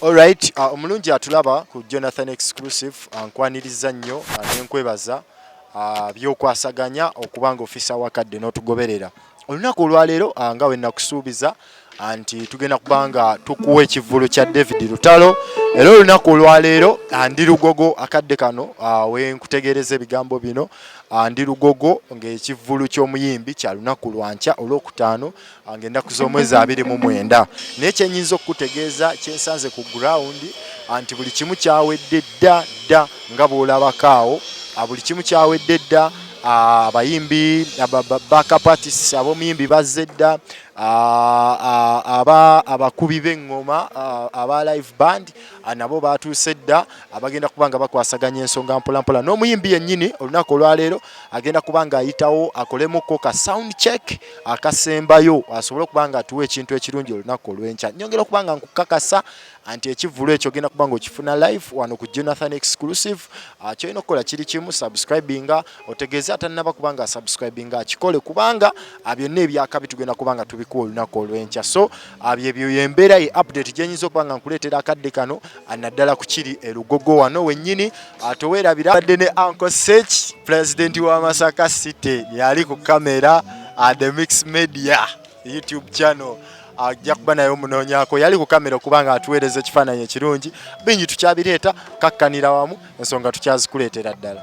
Alright, uh, omulungi atulaba ku Jonathan Exclusive uh, nkwaniriza nnyo uh, nenkwebaza uh, byokwasaganya okuba nga ofisa wakadde n'otugoberera olunaku olwaleero ah, nga wenakusuubiza ah, nti tugenda kubanga tukuwa ekivvulu kya david lutalo era olunaku olwaleero ah, ndi lugogo akadde kano wenkutegeereza ebigambo bino ndi lugogo ngaekivvulu ky'omuyimbi kya lunaku lwankya olwokutaano ngaennaku z'omwezi abiri mu mwenda naye kyenyinza okukutegeeza kyensanze ku gurawundi nti buli kimu kyawedde dda dda nga bwolabakaawo buli kimu kyawedde dda Ah, abayimbi backup artists ab'omuyimbi bazze dda ah, ah, aba abakubi b'eŋŋoma aba live band nabo baatuuse dda abagenda kuba nga bakwasaganya ensonga mpolampola n'omuyimbi yennyini olunaku olwaleero agenda kuba nga ayitawo akolemukko ka sound check akasembayo asobole okuba nga atuwa ekintu ekirungi olunaku olw'enkya nyongera okuba nga nkukakasa anti ekivulu ekyo ogenda kuba ngaokifuna live wano ku jonathan exclusive ah, kyolina okukola kiri kimu subscribinga otegeeze atanaba kubanga asubscribinga akikole kubanga ah, byonna ebyakabi tugenda kubanga tubikuwa olunaku olwenkya so ah, byebyoyembeera ye update gyenyinza okuba nga nkuleetera akadde kano naddala ku kiri elugogo wano wennyini towerabira badde ne anko sech pulezidenti wa masaka city yali ku kamera the mix media YouTube channel ajja kuba naye omunoonyako yali ku kamera okuba nga atuweereza ekifaananyi ekirungi bingi tukyabireeta kakkanira wamu ensonga tukyazikuleetera ddala